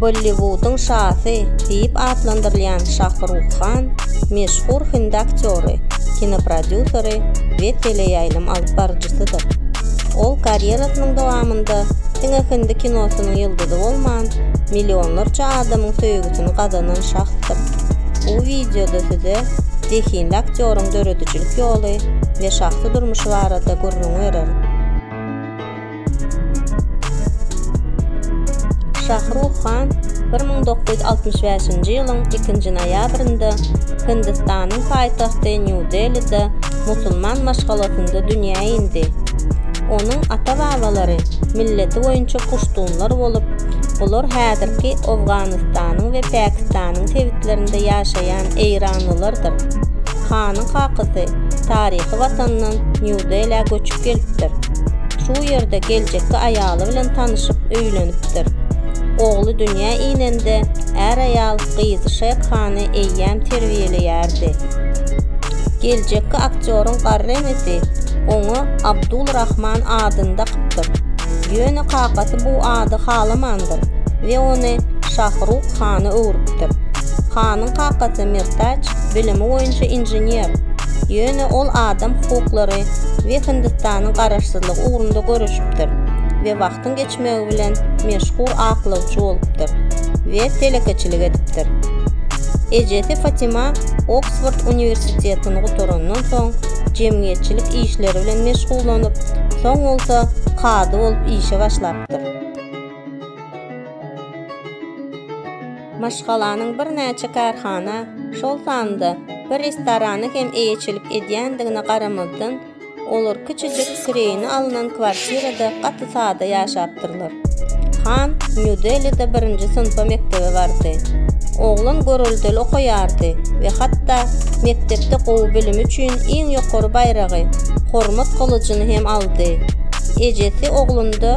Bolliwudyň şasy diýip atlandyrylýan Şahruh Han meşhur hindi aktýory, kinoprodýuseri we teleýaýlym alyp baryjysydyr. Ol karýerasynyň dowamynda diňe hindi kinosynyň ýyldyzy bolman, millionlarça adamyň söýgüsini gazanan şahsdyr. Bu wideoda size zehinli aktýoryň döredijilik ýoly we şahsy durmuşy barada gürrüň berer. Şah Ruh Han bir müň dokuz ýüz altmyş bäşinji ýylyň ikinji noýabrynda Hindistanyň paýtagty Nýu-Delide musulman maşgalasynda dünýä indi. Onuň ata-babalary milleti boýunça puştunlar bolup, olar häzirki Owganystanyň we Pakistanyň sebitlerinde ýaşaýan eýranlylardyr. Hanyň kakasy taryhy watanyndan Nýu-Delä göçüp gelipdir. Şu ýerde geljekki aýaly bilen tanyşyp öýlenipdir. Ogly dünýä inende är-aýal gyzy Şek Hany eýýäm terbiýeleýärdi. Geljekki aktýoryň garry enesi oňa Abdul Rahman adyny dakypdyr. Ýöne kakasy bu ady halamandyr we ony Şah Ruk Hana öwrüpdir. Hanyň kakasy Mirtaç bilimi boýunça inžener, ýöne ol adam hukuklary we Hindistanyň garaşsyzlygy ugrunda göreşipdir we wagtyň geçmegi bilen meşhur aklawçy bolupdyr we telekeçilik edipdir. Ejesi Fatima Oksford uniwersitetini gutarandan soň jemgyýetçilik işleri bilen meşgullanyp, soň bolsa kazy bolup işe başlapdyr. maşgalanyň birnäçe kärhana, şol sanda bir restorana hem eýeçilik edýändigine garamazdan, olar kiçijik kireýine alnan kwartirada gaty sada ýaşapdyrlar. Han Nýu-Delide birinji synpa mekdebe bardy. Oglan göreldeli okaýardy we hatda mekdepde gowy bilimi üçin iň ýokary baýragy, Hormat gylyjyny hem aldy. Ejesi oglunda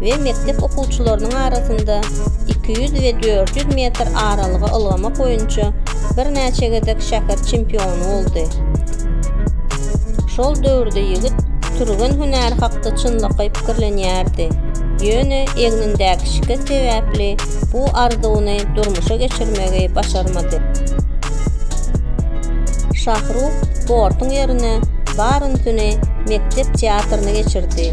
we mekdep okuwçylarynyň arasynda iki ýüz we dört ýüz metr aralyga ylgamak boýunça birnäçe gezek şäher çempiony boldy. Şol döwürde ýigit türgen hünäri hakda çynlakaý pikirlenýärdi, ýöne egnindäki şikes sebäpli bu arzuwyny durmuşa geçirmegi başarmady. Şahruh sportuň ýerine barynysyny mekdep teatryny geçirdi.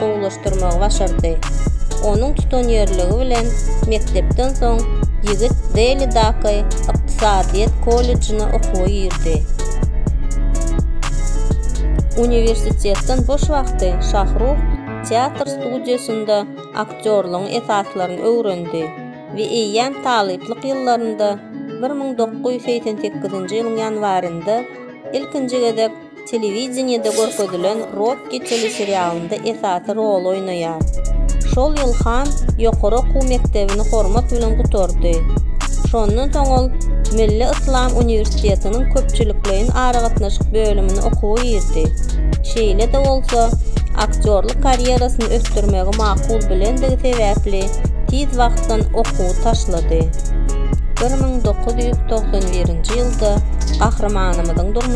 gowulaşdyrmagy başardy. Onuň tutanýerligi bilen mekdepden soň ýigit Delidaky ykdysadyýet kollejine okuwa girdi. Uniwersitetden boş wagty Şahruh teatr studiýasynda aktýorlygyň esaslaryny öwrendi we eýýäm talyplyk ýyllarynda bir müň dokuz ýüz segsen sekizinji ýylyň ýanwarynda ilkinji gezek Telewideniýede görkezilen Rokki teleserialynda esasy roly oýnaýar. Şol ýyl Han ýokary okuw mekdebini hormat bilen gutardy. Şondan soň ol Milli Yslam uniwersitetiniň köpçülikleýin aragatnaşyk bölümine okuwa girdi. Şeýle-de bolsa, aktýorlyk karýerasyny ösdürmegi makul bilendigi sebäpli tiz wagtdan okuwy taşlady. Bir müň dokuz ýüz togsan birinji ýylda gahrymanymyzyň durmuşy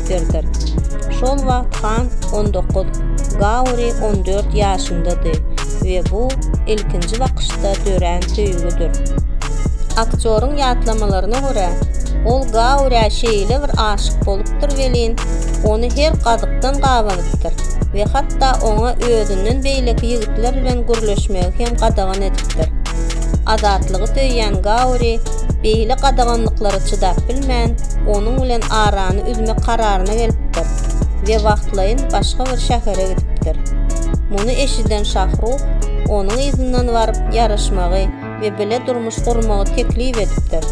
ýetişdiripdirdir. Şol wagt han on dokuz, Gauri on dört ýaşyndady we bu ilkinji bakyşda dörän söýgüdir. Aktýoryň ýatlamalaryna görä, ol Gaurä şeýle bir aşyk bolupdyr welin, ony her gazykdan gabanypdyr we hatda oňa özünden beýleki ýigitler bilen gürleşmegi hem gadagan edipdir. Azatlygy söýýän Gauri beýle gadaganlyklara çydap bilmän, onuň bilen arany üzmek kararyna gelipdir we wagtlaýyn başga bir şähere gidipdir. Muny eşiden Şahruh onuň yzyndan baryp ýaraşmagy we bile durmuş gurmagy teklip edipdir.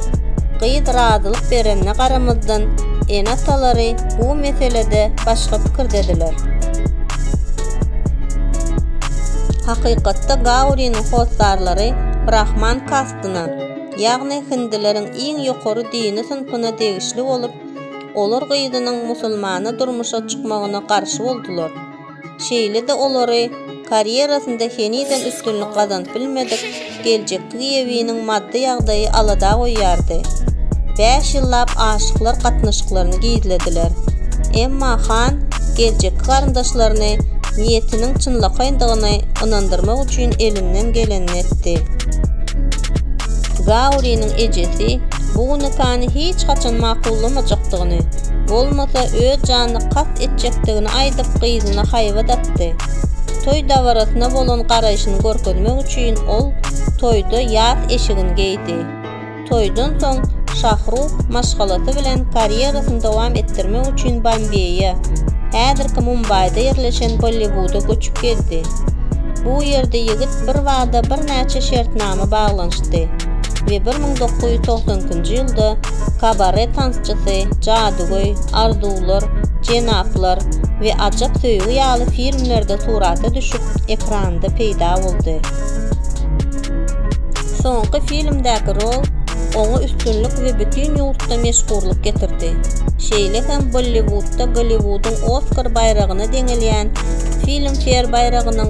Gyz razylyk berenine garamazdan, ene-atalary bu meselede başga pikirdediler. Hakykatda Gauriniň hossarlary brahman kastyna, ýagny hindileriň iň ýokary dini synpyna degişli bolup, olar gyzynyň musulmana durmuşa çykmagyna garşy boldular. Şeýle-de olary karýerasynda henizem üstünlik gazanyp bilmedik geljekki giýewiniň maddy ýagdaýy alada goýýardy. Bäş ýyllap aşyklar gatnaşyklaryny gizlediler. Emma han geljekki garyndaşlaryny niýetiniň çynlakaýyndygyny ynandyrmak üçin elinden gelenini etdi. Gauriniň ejesi bu nikany hiç haçan makullamajakdygyny, bolmasa öz janyna kast etjekdigini aýdyp gyzyna haýbat atdy. Toý dabarasyna bolan garaýşyny görkezmek üçin ol toýda ýas eşigini geýdi. Toýdan soň Şahruh maşgalasy bilen karýerasyny dowam etdirmek üçin Bombeýe, häzirki Mumbaýda ýerleşen Bolliwuda göçüp geldi. Bu ýerde ýigit birbada birnäçe şertnama baglanyşdy we bir müň dokuz ýüz togsan ikinji ýylda kabare tansçysy, jadygöý, Arzuwlar, Jenaplar we Ajap söýgi ýaly filmlerde surata düşüp, ekranda peýda boldy. Soňky filmdäki rol oňa üstünlik we bütin ýurtda meşhurlyk getirdi. Şeýle hem Bolliwudda Golliwudyň Oskar baýragyna deňelýän Filmfeýr baýragynyň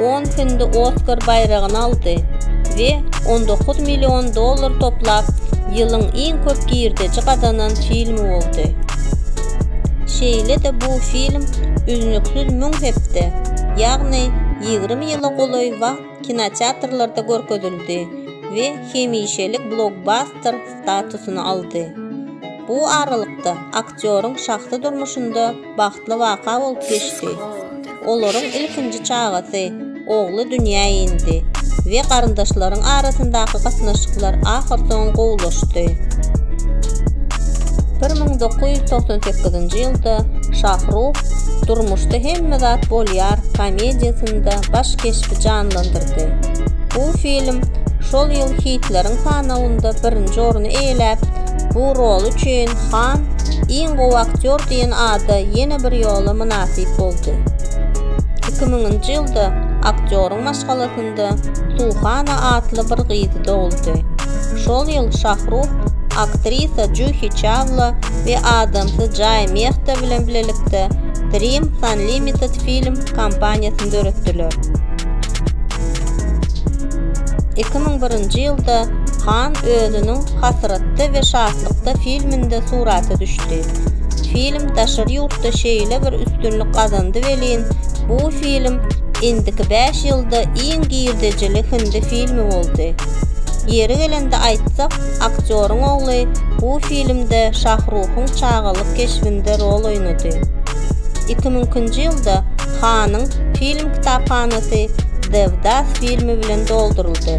on filmde Oskar baýragyny aldy we on dokuz million dollar toplap, ýylyň iň köp girdeji gazanan filmi boldy. Şeýle-de bu film üznüksiz müň hepde, ýagny ýigrimi ýyla golaý wagt kinoteatrlarda görkezildi we hemişelik blokbaster statusyny aldy. Bu aralykda aktýoryň şahsy durmuşynda Bagtly waka bolup geçdi. Olaryň ilkinji çagasy, ogly dünýä indi we garyndaşlaryň arasyndaky gatnaşyklar ahyrsoňy gowulaşdy. Bir müň dokuz ýüz togsan sekizinji ýylda Şahruh Durmuşda hemme zat bolýar komediýasynda baş keşbi janlandyrdy. Bu film şol ýyl hitleriň sanawynda birinji orny eýeläp, bu rol üçin Han iň gowy aktýor diýen ada ýene bir ýola mynasyp boldy. Iki müňünji ýylda aktýoryň maşgalasynda Suhana atly bir gyzy doguldy. Şol ýyl Şahruh aktrisa Juhi Çawla we adamsy Jae Mehta bilen bilelikde Dreams Unlimited film kompaniýasyny döretdiler. Iki müň birinji ýylda Han özüniň Hasratda we şatlykda filminde surata düşdi. Film daşary ýurtda şeýle bir üstünlik gazandy welin, bu film indiki bäş ýylda iň girdejili hindi filmi boldy. Ýeri gelende aýtsak, aktýoryň ogly bu filmde Şahruhyň çagalyk keşbinde rol oýnady. Iki müňkinji ýylda Hanyň film kitaphanasy Devdas filmi bilen dolduryldy.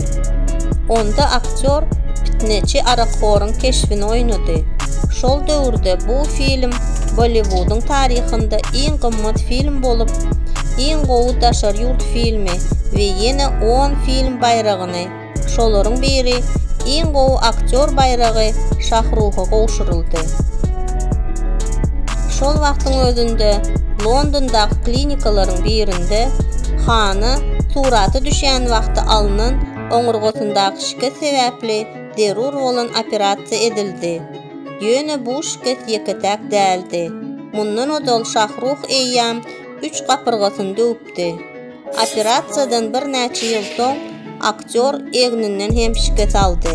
Onda aktýor pitneçi arakhoryň keşbini oýnady. Şol döwürde bu film Bolliwudyň taryhynda iň gymmat film bolup, iň gowy daşary ýurt filmi we ýene on film baýragyny Şolaryň biri Iň gowy aktýor baýragy Şahruha gowşuryldy. Şol wagtyň özünde Londondaky klinikalaryň birinde Hana surata düşýän wagty alnan oňurgasyndaky şikes sebäpli zerur bolan operasiýa edildi. Ýöne bu şikes ýeke-täk däldi. Mundan ozal Şahruh eýýäm üç gapyrgasyny döwüpdi. Operasiýadan birnäçe ýyl soň aktýor egninden hem şikes aldy.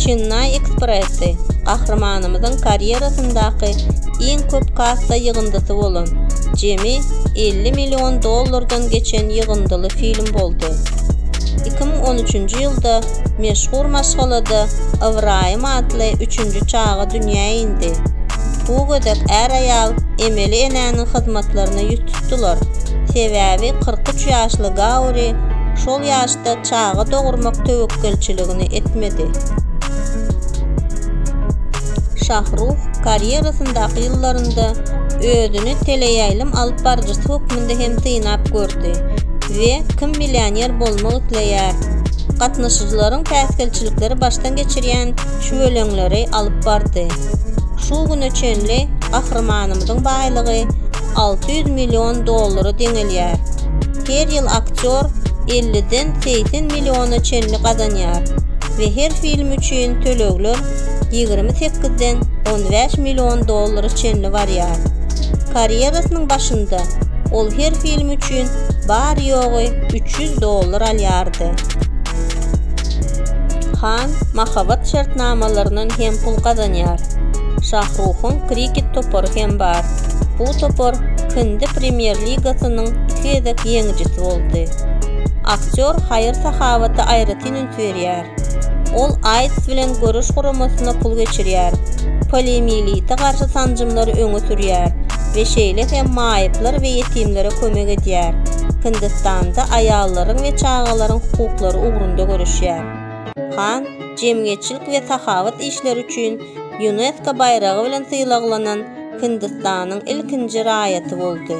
Çennaý Ekspressi gahrymanymyzyň karýerasyndaky iň köp kassa ýygyndysy bolan, jemi elli million dollardan geçen ýygyndyly film boldy. Iki müň on üçünji ýylda meşhur maşgalada Ybraýym atly üçünji çaga dünýä indi. Bu gezek är-aýal emeli enäniň hyzmatlaryna ýüz tutdular. Sebäbi kyrk üç ýaşly Gauri şol ýaşda çaga dogurmak töwekgelçiligini etmedi. Şahruh karýerasyndaky ýyllarynda özüni teleýaýlym alyp baryjysy hökmünde hem synap gördi we Kim millioner bolmak isleýär? gatnaşyjylaryň päsgelçilikleri başdan geçirýän şüweleňleri alyp bardy. Şu güne çenli gahrymanymyzyň baýlygy alty ýüz million dollara deňelýär. Her ýyl aktýor elliden segsen milliona çenli gazanýar we her film üçin tölegler ýigrimi sekizden on bäş million dollara çenli barýar. Karýerasynyň başynda ol her film üçin bary-ýogy üç ýüz dollar alýardy. Han mahabat şertnamalaryndan hem pul gazanýar. Şahruhyň kriket topary hem bar. Bu topar Hindi Premýer ligasynyň iki gezek ýeňijisi boldy. Aktýor haýyr-sahawata aýratyn üns berýär. Ol AIDS bilen göreş guramasyna pul geçirýär, poliomiýelite garşy sanjymlary öňe sürýär, we şeýle hem maýyplar we ýetimlere kömek edýär. Hindistanda aýallaryň we çagalaryň hukuklary ugrunda göreşýär. Khan jemgyýetçilik we sahawat işleri üçin Ýunesko baýragy bilen sylaglanan Hindistanyň ilkinji raýaty boldy.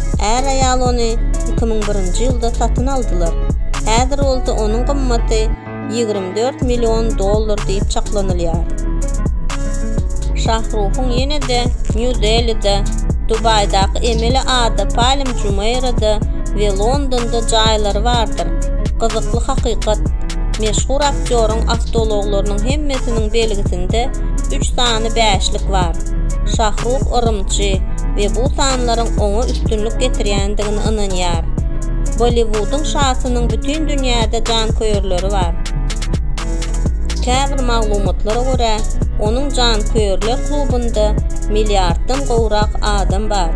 Är-aýal ony iki müň birinji ýylda satyn aldylar, häzir bolsa onuň gymmaty ýigrimi dört million dollar diýip çaklanylýar. Şahruhyň ýene-de Nýu-Delide, Dubaýdaky emeli ada Palm Jumeýrada we Londonda jaýlary bardyr. Gyzykly hakykat, meşhur aktýoryň awtoulaglarynyň hemmesiniň belgisinde üç sany bäşlik bar. Şahruh yrymçy, we bu sanlaryň oňa üstünlik getirýändigine ynanýar. Bolliwudyň şasynyň bütin dünýäde janköýerleri bar. Käbir maglumatlara görä, onuň janköýerler klubynda milliarddan gowrak adam bar.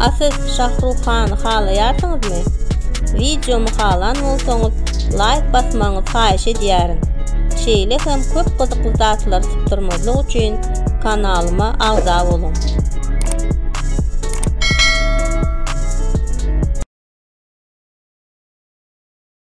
A siz Şah Ruhany halaýarsyňyzmy? Wideomy halan bolsaňyz, laýk basmagyňyzy haýyş edýärin. Şeýle hem köp gyzykly zatlary sypdyrmazlyk üçin kanalyma agza boluň.